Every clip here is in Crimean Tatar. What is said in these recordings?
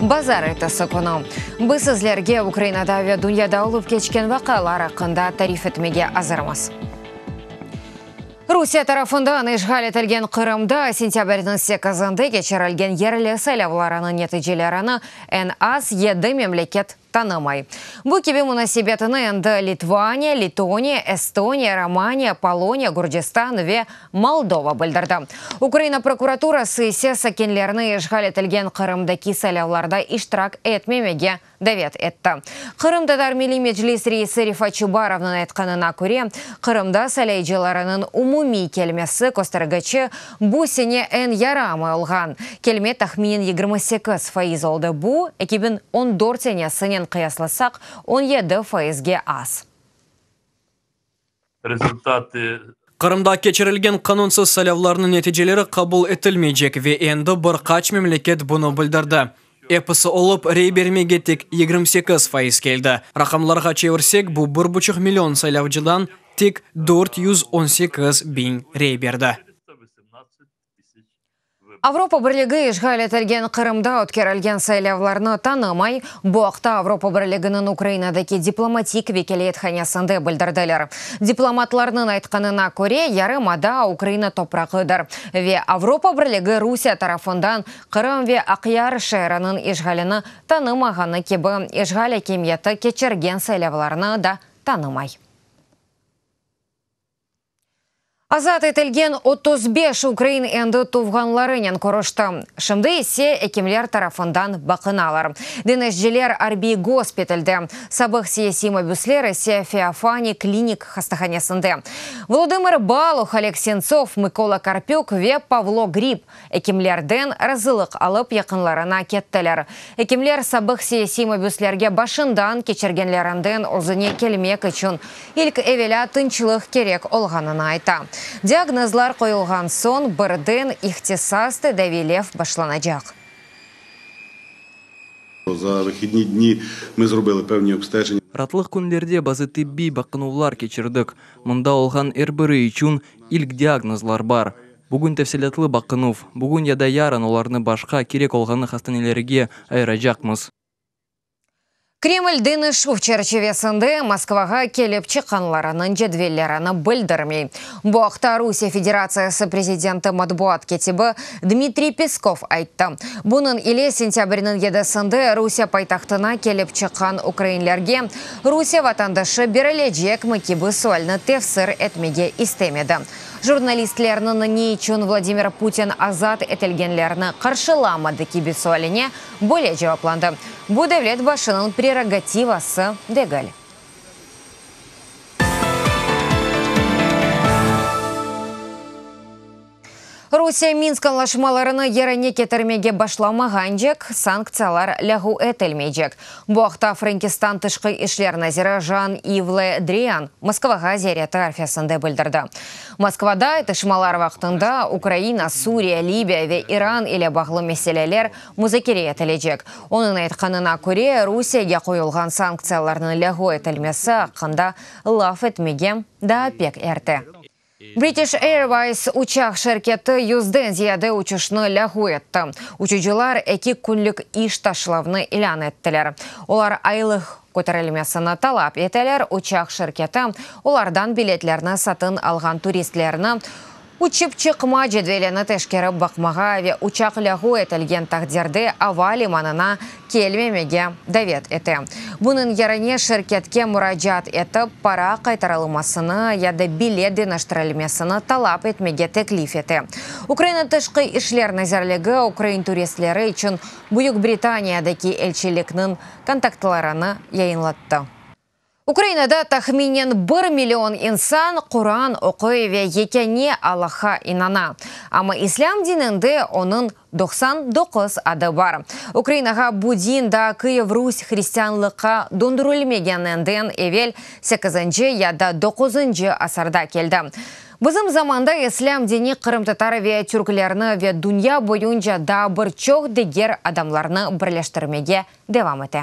Bazar ertesi künü biz sizlerge Ukrainada ve dünyada olıp keçken vaqialar aqqında tarif etmege azırmız. Rusiye tarafından işğal etilgen Qırımda sentâbrniñ sekizinde keçirilgen yerli saylavlarınıñ neticelerini en az yedi memleket tanımay. Bu kibi munasebetini endi Litvaniya, Letoniya, Estoniya, Romaniya, Poloniya, Gürcistan ve Moldova bildirdi. Ukraina prokuraturası ise sakinlerni işğal etilgen Qırımdaki saylavlarda iştirak etmemege davet etti. Qırım Tatar Milliy Meclis reisi Refat Çubarovnıñ aytqanına köre, Qırımda saylayıcılarınıñ umumiy kelmesi köstergiçi Bu sene eñ yarı amay olğan kelme tahminen yigirmi sekiz faiz oldı, bu, eki biñ on dört senesinen qıyaslasaq, on yedi faizge az. Rezultatı. Qırımda keçirilgen qanunsız saylavlarnıñ neticeleri qabul etilmeycek, ve endi bir qaç memleket bunı bildirdi. Episi olıp, rey bermege tek yigirmi sekiz faiz keldi. Raqamlarğa çevirsek, bu bir buçuq million saylavcıdan tek dört yüz on sekiz biñ rey berdi. Avropa Birligi işğal etilgen Qırımda ötkerilgen saylavlarnı tanımay, bu aqta Avropa Birliginiñ Ukrainadaki diplomatik vekâliyethanesinde bildirdiler. Diplomatlarnıñ aytqanına köre, yarımada Ukraina toprağıdır ve Avropa Birligi Rusiye tarafından Qırım ve Aqyar şeeriniñ işğalini tanımağanı kibi, işğal akimiyeti keçirgen saylavlarnı da tanımay. Azat etilgen otuz beş ukrain endi tuvğanlarınen körüşti, şimdi ise ekimler tarafından baqınalar. Deñişciler arbiy gospitalde, sabıq siyasiy mabüsler ise Feofaniy klinik hastahanesinde. Volodımır Baluh, Oleg Sentsov, Mıkola Karpük ve Pavlo Grib Ekimlerden razılıq alıp yaqınlarına kettiler. Ekimler sabıq siyasiy mabüslerge başından keçirgenlerinden özüne kelmek içün ilk evelâ tınçlıq kerek olğanını ayta. Diagnozlar qoyulğan soñ birden ihtisas tedaviylev başlanacaq. Ratlıq künlerde bazı tibbiy baqınuvlar keçirdik. Mında olğan er biri içün ilk diagnozlar bar. Bugün tefsilâtlı baqınuv. Bugün ya da yarın olarnı başqa, kerek olğanı hastanelerge ayıracaqmız. Kreml deñişüv çerçivesinde Moskvağa kelip çıqqanlarınıñ cedvellerini bildirmey. Bu aqta Rusiye Federatsiyası prezidenti matbuat ketibi Dmitriy Peskov ayttı. Bunıñ ile sentâbrniñ yedisinde Rusiye paytahtına kelip çıqqan ukrainlerge Rusiye vatandaşı berilecekmi kibi sualni tefsir etmege istemedi. Jurnalistlerniñ ne içün Vladimir Putin azat etilgenlerni qarşılamadı kibi sualine böyle cevaplandı, Bu devlet başınıñ prerogativası degil. Rusiye Minsk añlaşmalarını yerine ketirmege başlamağancek, sanktsiyalar lâğu etilmeycek. Bu aqta Frenkistan tışqı işler naziri Jan-İv Le Drian Moskvağa ziyareti arfesinde bildirdi. Moskvada atışmalar vaqtında Ukraina, Suriye, Libiya ve İran ile bağlı meseleler muzakere etilecek. Onıñ aytqanına köre, Rusiyege qoyulğan sanktsiyalarnıñ lâğu etilmesi aqqında laf etmege daa pek erte. British Airways uçaq şirketi yüzden ziyade uçuşnı lâğu etti. Uçucılar eki künlik iş taşlavnı ilân ettiler. Olar aylıq köterilmesini talap eteler, uçaq şirketi olardan biletlerni satın alğan turistlerni uçıp çıqma cedvelini teşkerip baqmağa ve uçaq lâğu etilgen taqdirde ava limanına kelmemege davet ete. Bunıñ yerine şirketke muracaat etip, para qaytarılmasını ya da bilet deñiştirilmesini talap etmege teklif ete. Ukraina Tışqı işler nazirligi ukrain turistleri içün Büyük Britaniyadaki elçilikniñ kontaktlarını yayınlattı. Ukrainada tahminen bir million insan Quran oquy ve yekâne Allaha inana. Amma islâm dininde onıñ doqsan doquz adı bar. Ukrainağa bu din daa Kıyev Rus hristianlıqqa dondürülmegeninden evel sekizinci ya da doquzıncı asırda keldi. Bizim zamanda islâm dini qırımtatar ve türklerni ve dünya boyunca daa bir çoq diger adamlarnı birleştirmege devam ete.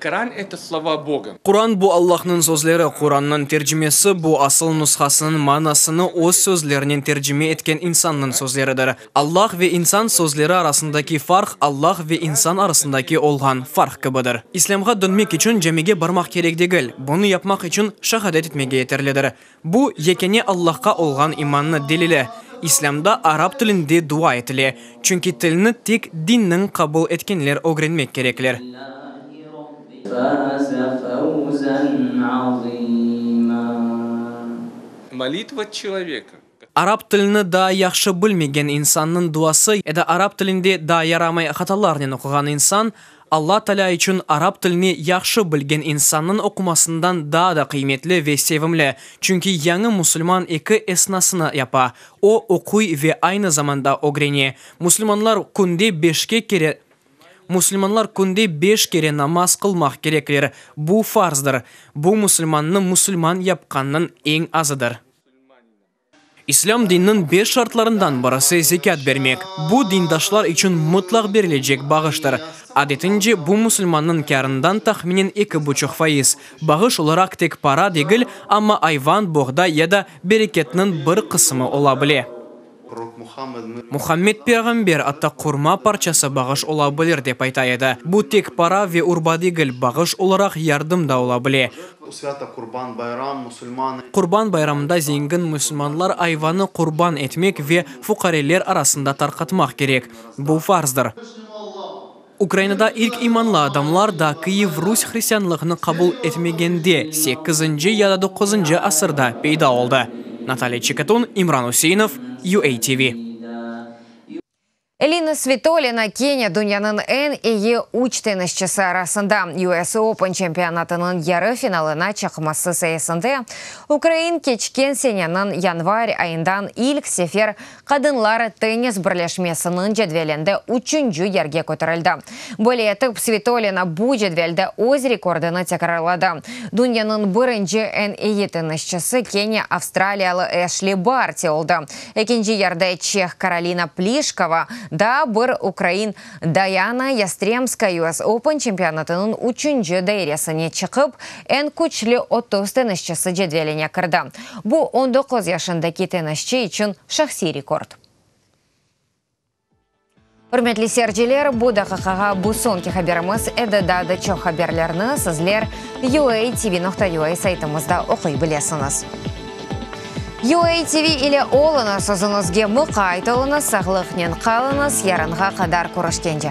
Qıran eto slova Boga. Quran bu Allahnıñ sözleri. Qurannıñ tercimesi bu asıl nushasınıñ manasını öz sözlerinen tercime etken insannıñ sözleridir. Allah ve insan sözleri arasındaki farq Allah ve insan arasındaki olğan farq kibidir. İslâmğa dönmek içün camige barmaq kerek degil, bunı yapmaq içün şahadet etmege yeterlidir. Bu, yekâne Allahqa olğan imannı delili. İslâmda arap tilinde dua etile, çünki tilni tek dinniñ qabul etkenler ögrenmek kerekler. Arap tilini daa yahşı bilmegen insannıñ duası ya da arap tilinde daa yaramay hatalarnen oquğan insan Alla Talâ içün arap tilini yahşı bilgen insannıñ oqumasından daa da qıymetli ve sevimli, çünki yañı musulman eki esnasını yapa, o, oquy ve aynı zamanda ögrene. Musulmanlar künde beşke kere Musulmanlar künde beş kere namaz qılmaq kerekler, bu farzdır. Bu musulmannı musulman yapqannıñ eñ azıdır. İslâm dininiñ beş şartlarından birisi zekât bermek. Bu, dindaşlar içün mıtlaq berilecek bağıştır. Adetince, bu musulmannıñ kârından tahminen eki buçuq faiz. Bağış olaraq tek para degil, amma ayvan, boğday ya da bereketniñ bir qısımı ola bile. Muhammed peyğamber atta qurma parçası bağış ola bilir dep ayta edi. Bu tek para ve urba degil, bağış olaraq yardım da ola bile. Qurban bayramında zengin musulmanlar ayvanı qurban etmek ve fuqareler arasında tarqatmaq kerek. Bu farzdır. Ukrainada ilk imanlı adamlar da Kyiv Rus hristianlığını qabul etmegende, sekkizinci ya da doquzıncı asırda peyda oldı. Natalya Çekatun, İmran Useinov, UATV. Elina Svitolina kene dünyanıñ eñ iyi üç tennisçisi arasında. US Open çempionatınıñ yarı finalına çıqması sayesinde ukrain keçken seneniñ yanvar ayından ilk sefer Qadınlar tennis birleşmesiniñ cedvelinde üçünci yerge köterildi. Böyle etip, Svitolina bu cedvelde öz rekordını tekrarladı. Dünyanıñ birinci eñ iyi tennisçisi kene avstraliyalı Eşli Barti oldı, Ekinci yerde çeh Karolina Plişkova, daa bir ukrain Dayana Yastremskaya US Open çempionatınıñ üçünci dairesine çıqıp, eñ küçlü otuz tennisçisi cedveline kirdi. Bu, on doquz yaşındaki tennisçi içün şahsiy rekord. Ürmetli seyirciler, bu daqiqağa bu soñki haberimiz edi, daa da çoq haberlerni sizler UATV nokta UA saytımızda oquy bilesiñiz. UATV ile oluñız, özüñizge muqayt oluñız, sağlıqnen qalıñız, yarınğa qadar körüşkence.